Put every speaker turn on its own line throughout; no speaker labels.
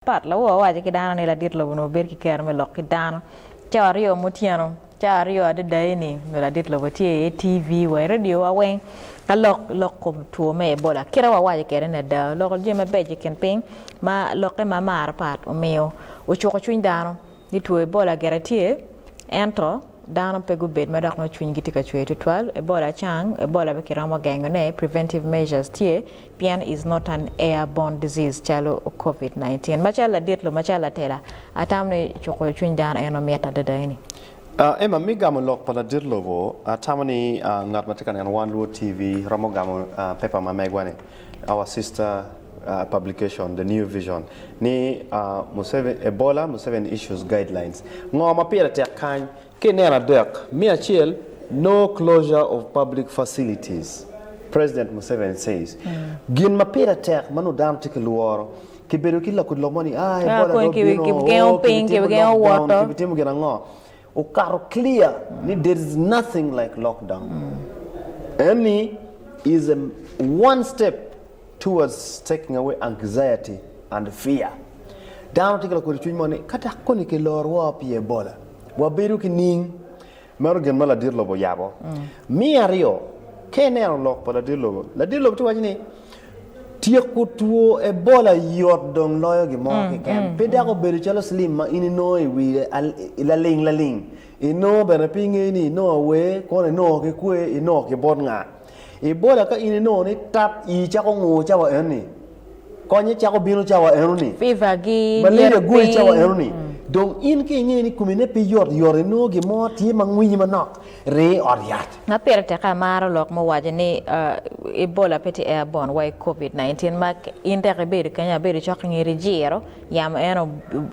Pat lawor owaco ki dano ni, Ladit lobo onongo bedo ki kero me lok ki dano cawa aryo ma otyeno. Cawa aryo adada eni nyo ladit lobo tye i TV wa i radiowa weng ka lok lok kom two me Ebola. Kit ma wawaco kwede ni ada, oloko jami mabeco i kin piny ma lokke ma marre pat omiyo ocuko cwiny dano ni two Ebola gire tye ento dano pe gubed ma dok nongo cwinygi tye ka cwer tutwal. Ebola cang, Ebola pe kiromo gengone, preventive measures tye. pien is not an air borne disease calo covid 19 macalo ladit lobo macalo latela atamo ni cuko cwiny dano eno mit adada eni. Emma mi
gamo lok pa ladit lobo atamo ni ngat matye ka neno one luo TV romo gamo paper ma megwa ni our sister publication the new vision ni Museveni Ebola Museveni issues guidelines ngo ma pire tek kany Ka ineno adek me acel No Closure of Public Facilities, President Museveni Says, Gin ma pire tek ma nongo dano tye ka lworo, kibedo ki lakudi lok mo ni, Ah, Ebola dong obino,
oh, kibitimo lockdown, kibitimo gin ango?
Okato clear ni there is nothing like lockdown. Eni is a one step towards taking away anxiety and fear. Dano tye ki lakodi cwiny mo ni, Ka dok koni kiloro woko pi Ebola, wabedo ki niing. Meno gin ma ladit lobo oyabo. Me aryo, ka ineno lok pa ladit lobo, ladit lobo tye waco ni tyeko two Ebola yot dong loyo gin mo keken. Pe dako obedo calo slim ma in inongo i wi laling laling, inongo bene pe ingey ni inongo awer, kono inongo ki kwer, inongo ki bot nga. Ibola ka in inongo ni tap ii cako ngur cawa enoni, konye cako bino cawa enoni, Fever gi malaria
nyer gwoyi cawa piny.
enoni, dong in ka ingeyo ni komine pe yot yot inongo gin mo tye ma ngwinyi manok, ring i ot yat. Ma pire tek
amaro lok muwaco ni Ebola pe tye airborne wa i Covid 19 ma in dek ibedo kenyo abedo cok i ngeri jiro yamo en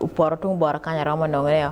opoto tung bota kany aromo nongo ne o.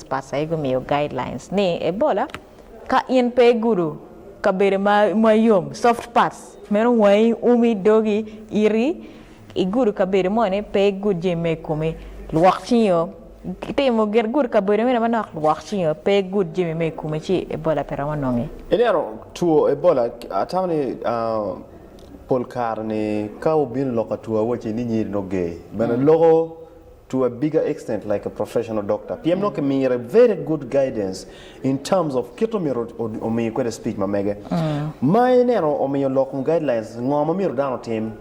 Pastor Ego omiyo guidelines ni Ebola ka in pe igudo kabedo ma yom, soft parts, meno wangi, umi, dogi, iti, igudo kabedo mo ni pe igud jami ma i komi, lwok cingi o, itimo gin gud kabedo mene manok, lwok cingi o, pe igud jami ma i komi ci Ebola pe romo nongi. I neno two
Ebola, atamo ni pol kare ni ka wubino lok ka two awaci ni nyiri nongo ger, bene loko to a bigger extent like a professional doctor pien nongo kimire very good guidance in terms of kit omyero omi kwede speech ma mege ma ineno omiyo lok kom guidelines ngo ma myero dano otim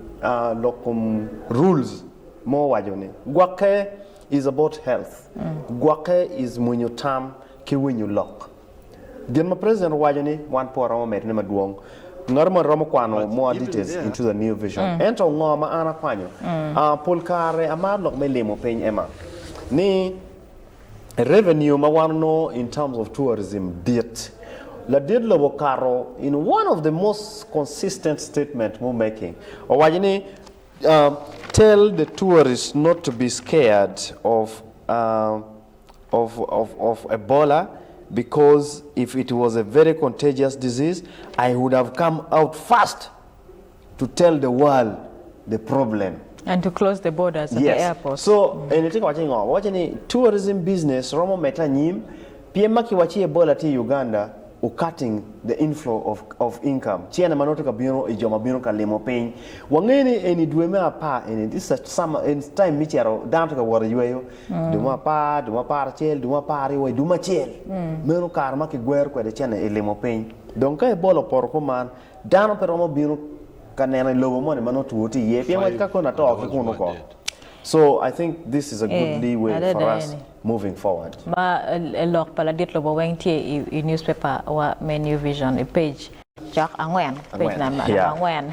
lok kom rules ma owaco ni gwokke is about health gwokke is mwinyo tam ki winyo lok. Gin ma president owaco ni wan pwo romo medone madwong. Ngato moni romo kwano more details into the new vision. Ento ngo ma an akwanyo? Ah, pol kare amaro lok me limo piny Emma. Ni revenue ma wan onongo in terms of tourism dit. Ladit lobo okato in one of the most consistent statement mu making. Owaco ni ah, tell the tourists not to be scared of ah, of of of Ebola because if it was a very contagious disease I would have come out first to tell the world the problem. And to close the
borders at yes. the airport. So, mm. eni tye ka waco
ngo? Waco ni tourism business romo mete anyim pien ma kiwaci Ebola tye i Uganda u cutting the inflow of of income. Ci ene ma nongo tye ka bino i jo ma bino ka limo piny. Wangeyo ni eni dwe me apar eni this is summer in time me cito dano tye ka wot i yweyo. Dumo apar, dumo aparacel, dumo apar-ri wa i dumo acel. Meno kare ma kigwero kwede cene i limo piny. Dong ka ibolo poto kuman, dano pe romo bino ka neno i lobo moni ma nongo two tye iye, pien wacci ka koni ato ki kunu oko. So, I think this is a good lee way for us moving forward. Ma lok
pa ladit lobo weng tye i newspaper wa me New Vision i page angwen.